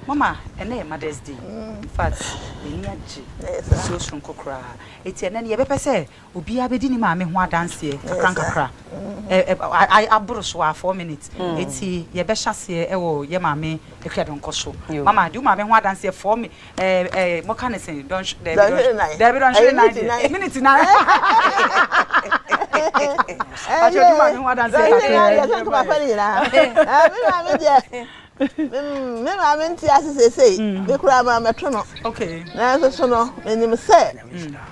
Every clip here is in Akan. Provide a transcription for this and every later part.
Mama, ɛnɛ yɛ Mother's Day. In fact, m'ani agye nsuo soronko koraa. Eti ɛnɛ no yɛbɛpɛ sɛ obiara bɛdi ne maame ho adanseɛ kakra nkakra. Ɛ aboro so a four minutes. Mm. Eti yɛbɛhyɛ aseɛ ɛwɔ yɛ maame ɛhwɛ donkɔ so. Mama, di wo maame ho adanseɛ four mi ɛɛ ɛɛ mɔka ne sen dɔnhw dɛbi dɔnhw dɛbi dɔnhwere nan deɛ minute nan. Ati o di wo maame ho adanseɛ kakra. Ɛɛ mi maame ho adanseɛ kakra. Ɛɛ mi maame deɛ. Me maame nte ase seesei, me koraa mammɛto no. Nanso so no, minim sɛ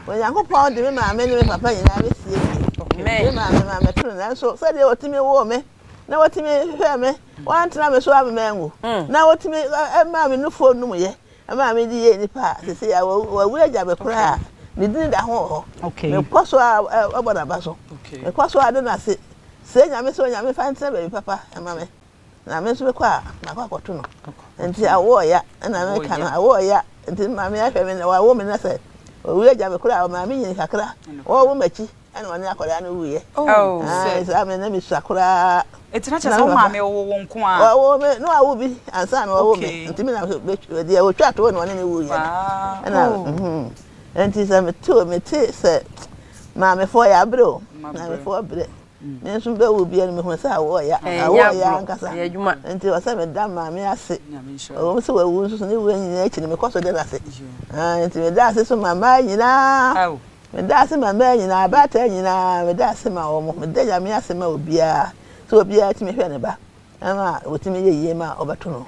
Onyankopɔn de me maame ne me papa nyinaa besiesie. Me maame mammɛto no, nanso sɛdeɛ wɔtumi woo me na wɔtumi hwɛɛ me, wɔantena me so ama manwu, na wɔtumi maa me nufoɔ num yɛ maa me de yɛɛ nipa a seesei a wɔawu agya me koraa a, ne din da ho wɔ hɔ. Mekɔ so ara bɔ n'aba so. Mekɔ so ara da no ase, srɛ Nyame sɛ Onyame mfa ntena baabi papa ma me. na me nso mekɔ a makɔ akɔto no nti awo ɔya ɛna meka no awo ɔya nti maame ahwɛ me na wawo me na sɛ owie agya me koraa ɔmaa me nyini kakra wɔwo m'akyi ɛna ɔne akwadaa no wuiɛ oh, ah, saa me na mesua koraa ɛtina kyɛ sɛ wo maame ɔwo wo nko a ɔwo me na wawo bi ansa na ɔwo me nti me na deɛ ɔtwa atoo na ɔne ne wuiɛ no ɛna oh. mhm. nti sɛ mete mete sɛ maamefoɔ yɛ aberɛ o maamefoɔ berɛ Me nso bɛwo biara no mehunu sɛ awoɔ ya. Awoɔ ya ankasa. Nti ɛwɔ sɛ meda Maame ase. Ɛwɔ mu sɛ wawu nso so ne wuo nyinaa akyi no mekɔ so da no ase. Aane, nti meda ase nso ma mmaa nyinaa. Meda ase ma mmaa nyinaa, abaatan nyinaa, meda ase ma wɔn. Meda Nyame ase ma obiara sɛ obiara tumi hwɛ ne ba ma ɔtumi yɛ yie ma ɔbɛto no.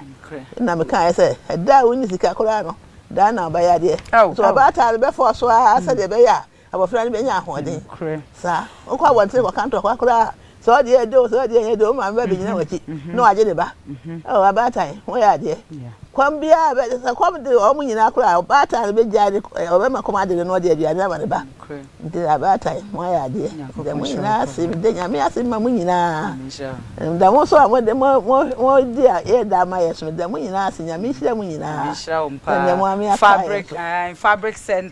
Ɛna mekaeɛ sɛ, ɛda a wonni sika koraa no, da no na wobɛyɛ adeɛ. Nso ɔbaatan no bɛfɔɔso ara sɛdeɛ ɛbɛyɛ a Abɔfra no bɛnya ahoɔden. Nokorɛ. Saa. Wokɔ abɔnten kɔka ntɔkwa koraa a, sɛ ɔdeɛ yɛ de o, sɛ ɔdeɛ nyɛ de o, wo maame bɛbɛgyina w'akyi na wagye ne ba. Oh, abaatan, woyɛ adeɛ. Kɔm biara bɛ, sɛ kɔm de wɔn nyinaa koraa a, ɔbaatan no bɛgyae ne, ɔbɛma kɔm ade no na ɔde aduane ama ne ba. Nti abaatan, moayɛ adeɛ. Meda mo nyinaa ase, meda Nyame ase ma mo nyinaa. Meda mo nso a mode mo, mo, modi a yɛda ama yɛn so, meda mo nyinaa ase. Nyame nhyira mo nyinaa. Sɛdeɛ mo maame aka yɛn so.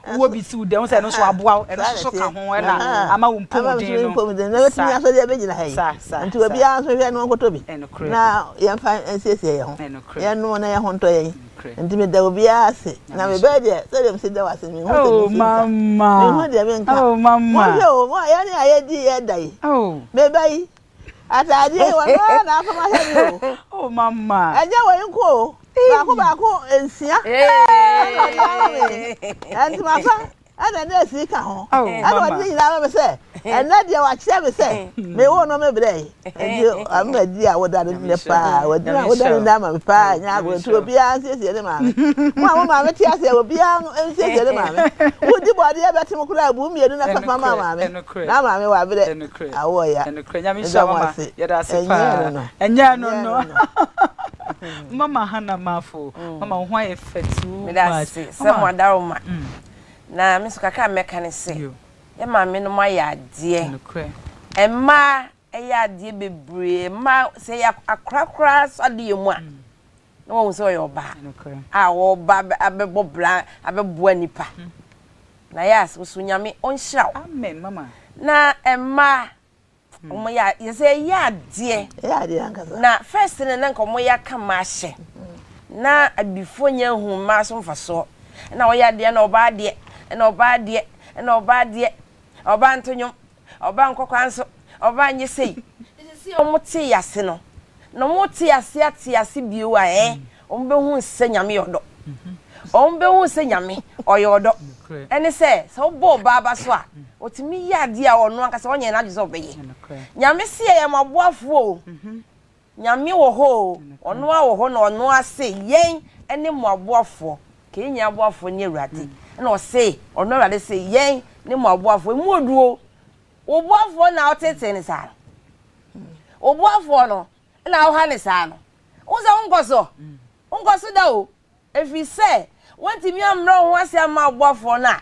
Wowɔ bi si wo dan mu sɛ ɛno nso aboa wo, ɛno nso ka ho na ama wo mpomuden no. Sa, sa, sa, sa. Obiara nso nhwɛ na ɔnkɔtɔ bi na yɛmfa nsiesie yɛn ho. Yɛnnom na yɛn ho ntɔ yɛn. Nti meda obiara ase. Na me ba deɛ, sɛdeɛ mesi da wo ase no, menhu sɛ mesi nka. Menhu deɛ menka. Monhwɛ o, mo a yɛne a yɛdi yɛda yi, me ba yi, Ataadeɛ yi wɔn ara na afam ahwɛ mi o. Oh mama. Ɛnyɛ wei nko o. Baako baako nsia. Ɛna ɔde ama mi. Ntoma pa ɛna ne efiri ka ho. Ɛna ɔde ne nyinaa ama mi sɛ ɛnɛ deɛ wakyerɛ mi sɛ mi wo no mi brɛ yi. Ɛdi ama di a woda ne nɛ paa. Wadina woda ne nɛ ama mi paa nyɛ agorɔ nti obiara nsiesie ne maame. Mo a mo maame te aseɛ obiara nsiesie ne maame. Wodi bɔdeɛ bɛte mo koraa bu mmienu na fa fa ma maame. Na maame wabrɛ. Nokorɛ, nokorɛ, Nyame nhyira wo ma, yɛda ase paa, ɛnyɛ ɛno no, mama Hannah Marfo, mama wo ho ayɛ fɛ too much, mama, medase sɛ mo adaroma, na me nso kakra a mɛka ne sɛ, yɛ maame nom ayɛ adeɛ, nokorɛ, mmaa ɛyɛ adeɛ bebree, mmaa sɛ yɛ akora koraa nso adeɛ mu a, na wɔahu sɛ ɔyɛ ɔbaa a ɔba abɛbɔ bra abɛboa nipa na yɛ ase nso nyame ɔnhyira wo amen mama na mmaa wɔn hmm. yɛ yɛsɛ yɛ adeɛ na first no na nka wɔn yɛ aka mmaa hyɛ na abifo nyɛ hu mmaa so mfasoɔ na ɔyɛ adeɛ na ɔbaa adeɛ na ɔbaa adeɛ na ɔbaa adeɛ ɔbaa ntonwom Ɔbaa nkɔkwaa nso, ɔbaa nyɛ sei. Nti sesei ɔmo tee ase no, na ɔmo rete ase ate ase bio a ɛɛ, ɔmo behu sɛ Nyame yɛ ɔdɔ. Ɔmo behu sɛ Nyame, ɔyɛ ɔdɔ. Ɛne sɛ, sɛ wobɔ ɔbaa ba so a, otumi yɛ adeɛ a ɔno ankasa ɔnyɛ n'adwene sɛ ɔbɛyɛ. Nyame se yɛyɛ moaboafoɔ o. Nyame wɔ hɔ oo, ɔno ara wɔ hɔ na ɔno ara se yɛn ne mo aboafoɔ, ka yɛn nyinaa aboafoɔ ne Awurade, ɛna ɔse, ɔno Awurade se yɛn ne mo aboafoɔ, emu ɔduru oo, wo boafoɔ na wotetee no saa no, wo boafoɔ no na woha no saa no, wo sɛ wonkɔ so, wonkɔ so da oo, Ɛfiri sɛ woantumi ammrɛ wo ho ase amma ɔbɔfoɔ no a,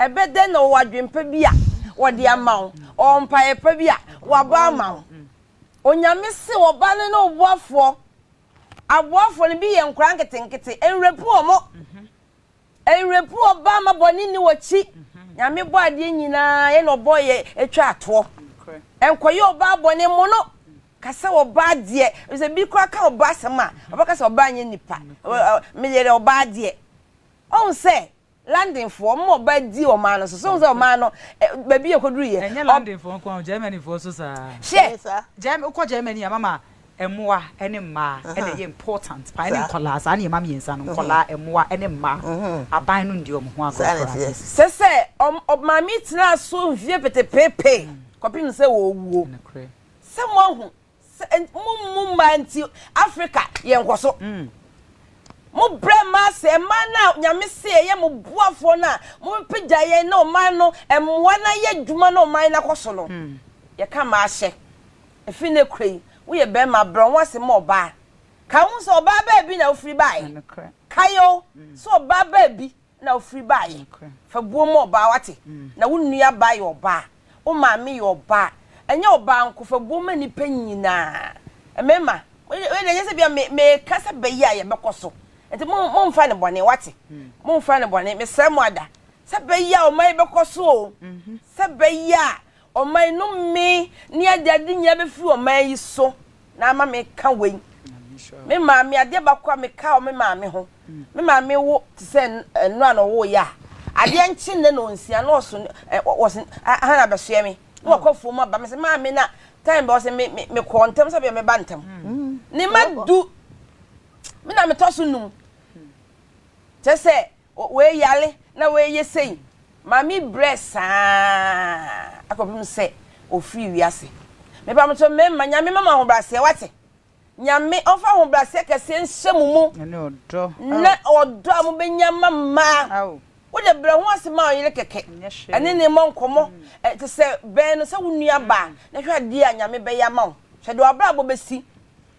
ɛbɛ dɛn na ɔwɔ adwene pa bi a ɔde ama wo? Ɔwɔ mpaeɛ pa bi a wabɔ ama wo? Onyame se wɔ ba no ne wo boafoɔ. Aboafoɔ no bi yɛ nkwadaa nketenkete. Ɛnwerɛpu wɔn. Ɛnwerɛpu wɔn ba ma bɔne nni wɔn akyi. Nyame bɔɔ adeɛ nyinaa, yɛ na ɔbɔɔ yɛ atwa atoɔ. Ɛnkɔyɛ ɔbaa bɔne mmono. Ka sɛ ɔbaa deɛ, ɛfiri sɛ bi koraa ka ɔbaa asɛm a, ɔbɛka sɛ ɔbaa nyɛ nipa, me yere ɔbaa deɛ. Wahu sɛ Landenfoɔ, wɔn ma ɔbaa di ɔman no so, so wohu sɛ ɔman no, baabi a ɛkɔduruiɛ. Ɛnyɛ Landenfoɔ nko ara, Germanyfoɔ nso saa ara. Hwɛ! Wokɔ Germany a, mama mmoa ne mmaa na ɛyɛ important paa, ɛne nkwadaa, saa nneɛma mmiɛnsa no, nkwadaa, mmoa ne mmaa, aban no nni wɔn ho agorɔ koraa. Sɛ sɛ, maame yi tenaa so mfeɛ petepeepe kɔpem sɛ ɔwuo. Sɛ moahu sɛ mo mmu mmaa nti Africa yɛ nkɔso. Mo brɛ mmaa sɛ mmaa no a Nyame se ɛyɛ mo boafoɔ no a mobɛpagya yɛn ne ɔman no mmoa no ayɛ adwuma na ɔman no akɔ so no. Yɛka mmaa ahyɛ. Ɛfiri nnɛ kura yi, woyɛ barima, brɛ wo ho ase ma ɔbaa. Kae wo ho sɛ ɔbaa baabi na wofiri baeɛ. Kae o, sɛ ɔbaa baabi na wofiri baeɛ. Fa buo ma ɔbaa, woate? Na wo nuabaa yɛ ɔbaa. Wo maame yɛ ɔbaa. Ɛnyɛ ɔbaa nko, fa buo ma nnipa nyinaa. Mmarima, wei, wei deɛ ɛnyɛ sɛ bia me, meka sɛ bɛ yi a yɛbɛkɔ so. Nti mo, momfa no bɔne, woate? Momfa no bɔne, mesrɛ mo ada. Sɛ bɛ yi a ɔman yi bɛkɔ so o. Sɛ bɛ yi a. Ɔman yi, nome ne agyadi nyinaa bɛfiri ɔman yi so na ama me ka wei. Me maame, adeɛ baako a me ka wɔ me maame ho, me maame wo te sɛ nnora na ɔwoo yɛ a, adeɛ nkye nnɛ na ɔnsia na ɔso, wɔse aha na bɛsoɛ me na wakɔ afuom aba, me se maame na time bɛ ɔse me, me kɔɔ ntɛm sɛ bia mɛba ntɛm. Ne ma du, me na me tɔ so num, kyerɛ sɛ. Wɔayare na wɔreyɛ sei. Maame brɛ saa ara kɔpem sɛ ɔfiri wiase. Mepamokyɛw mmarima, Nyame mma mo ahobrɛaseɛ, woate? Nyame ɔmfa ahobrɛaseɛ kɛseɛ nhyɛ mo mu, ne ɔdɔ a mobɛnya ma mmaa. Wode brɛ ho ase ma wo yere kɛkɛ, ɛne no mmɔ nkɔmmɔ te sɛ bɛn no sɛ wo nuabaa, na hwɛ adeɛ a Nyame bɛyɛ ama wo. Hwɛ deɛ w'abrabɔ bɛsi.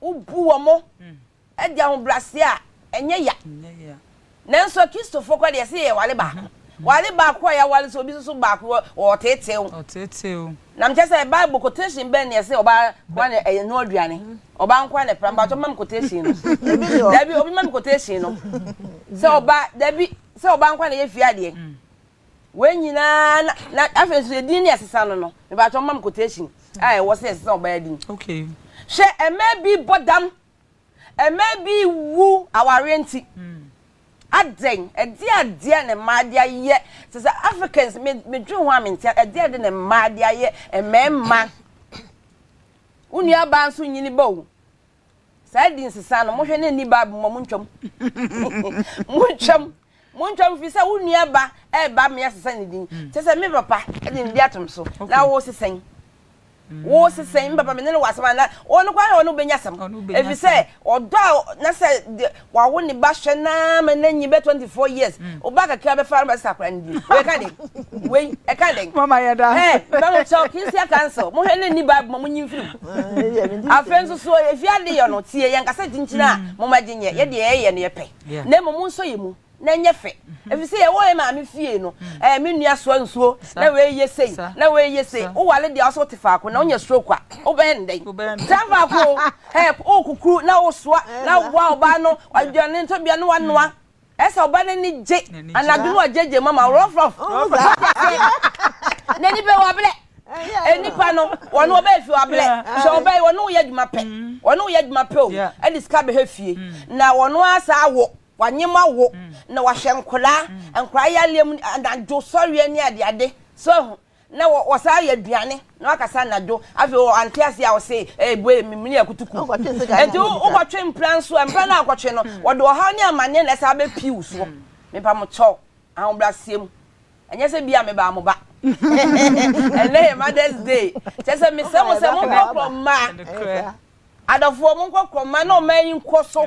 Wobu wɔn de ahobrɛaseɛ a ɛnyɛ ya. Nanso Akristofoɔ koraa deɛ, ɛsɛ yɛware baako. Ware baako a yɛaware nso, obi nso baako wɔ ɔteetee. Na mekyerɛ sɛ Bible quotation bɛn na ɛsɛ ɔbaa nkoa na ɛnoa aduane? Ɔbaa nkoa na ɛpram. Mpakyɛ mma me quotation no. Dabi, obi mma me quotation no. Sɛ ɔbaa, dabi, sɛ ɔbaa nkoa na ɛyɛ fie adeɛ. Wei nyinaa na na afei nso edin ne ɛsesa no no mebaatwa ɔmam quotation a ɛwɔ sɛ ɛsesa ɔbaa din. Okay. Hwɛ ɛmaa bi bɔ dam ɛmaa bi wu awareɛ nti hmm. adɛn ɛdeɛ adeɛ ne mmaa de ayɛ sɛ sɛ Africans me medwen ho a mente ɛdeɛ ade ne mmaa de ayɛ mmarima wo nua baa nso nyini ba o Saa adi nsesa no, mohwɛ na nni Bible mu a, montwam. montwam. Montwam firi sɛ wo nua ba ɛreba mmea sesa ne din. Hmm. Kyɛ sɛ me papa de ne di atom so na wo sesɛn. Hmm. Wo sesɛn, me papa me ne no wɔ asɛm a na wɔn no kwan na wɔn bɛnya asɛm. Ɛfiri sɛ ɔdɔ a na sɛ wawo ne ba hwɛ naa ma n'anyi bɛ 24 years wo ba kakra bɛfa ara bɛsesa akora no din wei ɛka den wei ɛka den mama yɛ da ɛ mba mo kyɛw kinsia council mo hwɛ ne ni bible ma mo nyi mfiri mu afei nso so efi ade yɛ no tie yɛn kasa kyinkyin a mm. mo ma gye nyɛ yɛ deɛ yɛyɛ no yɛ pɛ na mmom mo nsɔ yɛ mu na ɛnyɛ fɛ mm-hmm. efi sɛ yɛwɔ yɛ maame fie no mm. ɛɛ me nua soa nsuo na wei yɛ sei na wei yɛ sei wowale deɛ ɔsɛ wote faako na wonya stroke a wobɛn dɛn tra faako Help wo kukuru na wo soa na wo boa ɔbaa no aduane nso bia na wa noa ɛsɛ ɔbaa no ani gye anadwo no wa gye gye mama rough rough n'ani bɛ wa blɛ enipa no wɔn ɔbɛ efi wa blɛ sɛ ɔbɛ yi wɔn yɛ adwuma pɛ wɔn yɛ adwuma pɛ o ɛde sika bɛ hɛ fie na wɔn asa awo wa nyema wo na wa hwɛ nkora nkora yɛ aliam anadwo sɔre ani ade ade so Na wɔsaa yɛ aduane na wakasa anadwo. Afei ɔante aseɛ a ɔse ɛɛbue memene akutuku. Enti wokɔtwe mpra nso a, mpra no a wokɔtwe no, wɔde ɔhaw ne amanneɛ na ɛsan bɛpii wo soɔ. Mepa mo kyɛw, ahobrɛaseɛ mu. Ɛnyɛ sɛ bia mebaa mo ba. Ɛnnɛ yɛ Mother's Day. Kyerɛ sɛ mesrɛ mo sɛ monkɔkorɔ mmaa. Adɔfoɔ monkɔkorɔ mmaa na ɔman yi nkɔ so.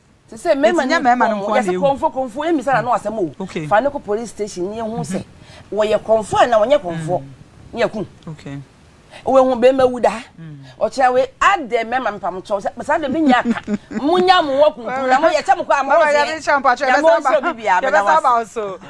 Te sɛ mmarima ne mmarima no nko yɛsɛ kɔnfo kɔnfo emi sara no asɛm o fa ne kɔ police station ne ehu sɛ wɔyɛ kɔnfo a na wɔnyɛ kɔnfo ne ɛku wɔn ehu bɛrima wu da ɔkyerɛ wei adɛ mmarima mpam kyɛw sɛ saa de mi nya ka mo nya mo wɔ kunkum na mo yɛ kyɛ mo kɔ a mo yɛ na mo nhyɛ obi bi a bɛda wɔ ase.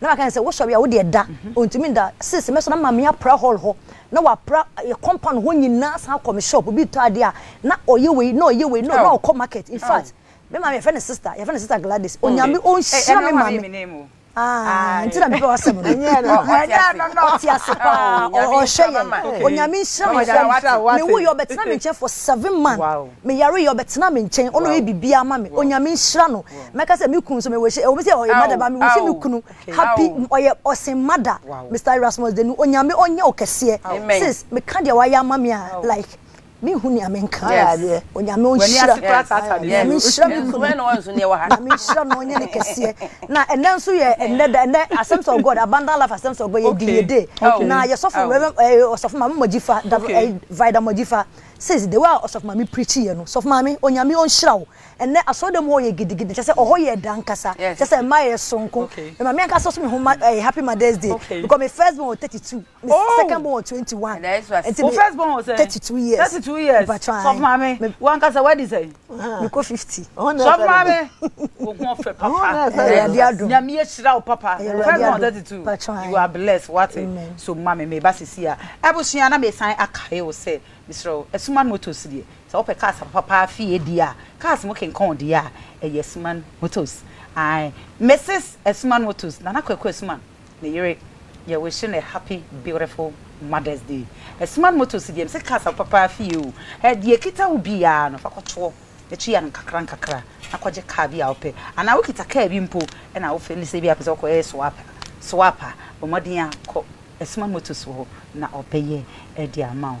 na waka ne sɛ wo sɔre a wo deɛ da ɔntumi nda sese mɛsɔ na ma me apra hall hɔ na wapra yɛ compound hɔ nyinaa san akɔ me shop obi tɔ adeɛ a na ɔyɛ wei na ɔyɛ wei na ɔkɔ market in fact me maame yɛfɛ ne sister yɛfɛ ne sister Gladys onyame ɔnhyira me maame Ah, nti na mepɛ wasɛm no. Ɛnyɛ no. Ɛnyɛ no no. Ɔte ase paa. Ɔhwɛ yɛn. Onyame nhyira me. Me wo yɛ ɔbɛtena me nkyɛn for seven months. Me yare yi ɔbɛtena me nkyɛn ɔna ɔyɛ biribiara ama me onyame nhyira no mɛka sɛ me kunu nso me wish ɛwɔ mu sɛ ɔyɛ mada ba me wish me kunu happy ɔyɛ ɔsen mada Mister Erasmus Denu onyame ɔnyɛ wo kɛseɛ sis meka deɛ wayɛ ama me a like me hu nea me nka adeɛ onyame ɔnhyira onyame nhyira me kunu onyame nhyira no ɔnyɛ ne kɛseɛ na ɛnɛ nso yɛ ɛnɛ da ɛnɛ asɛms of God abundant life asɛms of God yɛ di yɛ day na yɛ sɔfo reverend ɔsɔfo ma me mɔgyi fa da vida mɔgyi fa Says the way a ɔsɔfo maame preachi yɛ no sɔfo maame onyame ɔnhyira wo ɛnɛ asɔrdan mu hɔ yɛ gidigidi kyɛ sɛ ɔhɔ yɛ ɛda ankasa kyɛ sɛ mma yɛ sonko me maame ankasa ɔso me ho ma ɛɛ happy mothers day because me first born wɔ thirty two me Oh. second born wɔ twenty one ɛnti Wo me first born wɔ sɛn? thirty two years Thirty two years. mpakyɛw Sɔfo ae maame, me wankasa wadi sɛn? mekɔ fifty. sɔmare wo ho ɔfɛ papa nyame ahyira wo papa ten on thirty two you are blessed wate so ma me meba sisi a abusua na mesan akae wo sɛ mesrɛ wo asuman motors deɛ sɛ wopɛ cars papa paa fie deɛ a cars mo kenkɔn deɛ a ɛyɛ asuman motors ae mrs asuman motors nana kwaku asuman Me yere yɛ wish no happy beautiful mother's day smart motor si deɛ me se cars a papa afie oo eh deɛ ɛkita wo biaa no fa kɔ toɔ ɛtua no nkakra nkakra na kɔ gye car bi a wo pɛ anaa wo kita car bi mpo ɛna wo feel sɛ bia pɛ sɛ wo kɔ yɛ swap a swap a bɔ mmɔden a kɔ smart motors wɔ hɔ na ɔbɛyɛ ɛde ama wo.